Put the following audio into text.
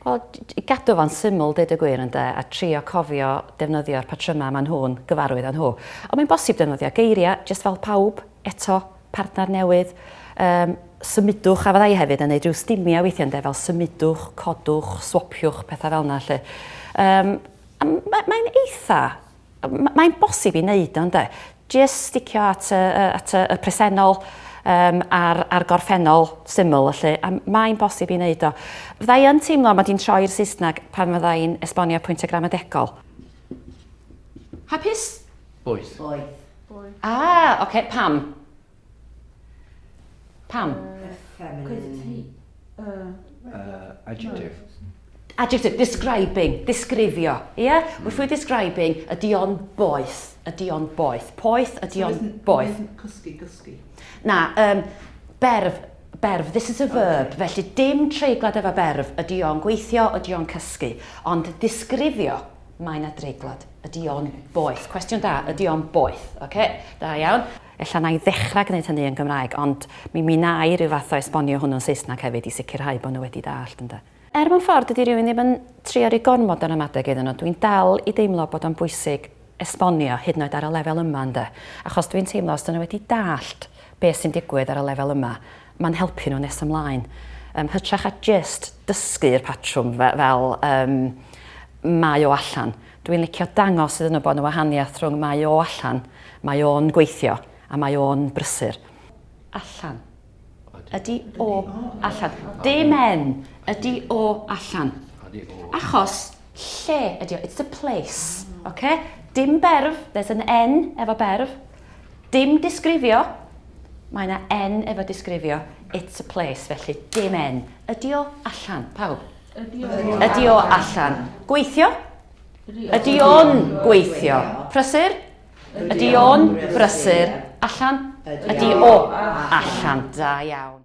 Wel, gadw fo'n syml, dweud y gwir ynde, a trio cofio defnyddio'r patrymau maen nhw'n gyfarwydd â nhw. Ond mae'n bosib defnyddio geiriau, jyst fel pawb, eto, partner newydd, yym, symudwch, a fydda i hefyd yn neud rhyw stimia weithia ynde, fel symudwch, codwch, swapiwch, petha fel yna 'lly. Yym, a ma' mae'n eitha, mae'n bosib i neud o ynde. Jyst sticio at y, at y presennol, um, a'r, ar gorffennol syml ylly, a mae'n bosib i neud o. Fydda i yn teimlo mod i'n troi i'r Saesneg pan fydda i'n esbonio pwyntiau gramadegol. Hapus? Boeth. Boeth. Boy. Ah, oce, okay, pam? Pam? Uh, feminine. Uh, uh, adjective. Adjective, describing, disgrifio. Ie? Yeah? Mm. Wrth describing, ydy o'n boeth. Ydy o'n boeth. Poeth, ydy o'n so boeth. Cysgu, gysgu. Na, um, berf, berf, this is a verb, okay. felly dim treiglad efo berf, ydy o'n gweithio, ydy o'n cysgu, ond disgrifio, Mae yna dreiglad. Ydy o'n boeth? Cwestiwn da, ydy o'n boeth? Oce, okay, da iawn. Ella na i ddechrau gwneud hynny yn Gymraeg, ond mi mi na i rhyw fath o esbonio hwnnw'n Saesneg hefyd i sicrhau bod nhw wedi dallt, ynde. Er mewn ffordd dydy rhywun ddim yn trio rhoi gormod o ramadeg iddyn nhw, dwi'n dal i deimlo bod o'n bwysig esbonio, hyd yn oed ar y lefel yma, ynde. Achos dwi'n teimlo os dyn nhw wedi dallt beth sy'n digwydd ar y lefel yma, Mae'n helpu nhw nes ymlaen. Yn hytrach a jyst dysgu i'r patrwm fel yym mae o allan. Dwi'n licio dangos iddyn nhw bod na wahaniaeth rhwng mae o allan, mae o'n gweithio a mae o'n brysur. Allan. Ydy o allan. Dim en. Ydy o allan. Achos Lle ydi o, it's a place. Oce? Dim berf, there's an N efo berf. Dim disgrifio, mae yna N efo disgrifio. It's a place, felly dim N. Ydi o allan, pawb? Ydi o. Ydi o allan. Gweithio? Ydi o'n gweithio? Prysur? Ydi o'n brysur? Allan? Ydi o allan. Da iawn.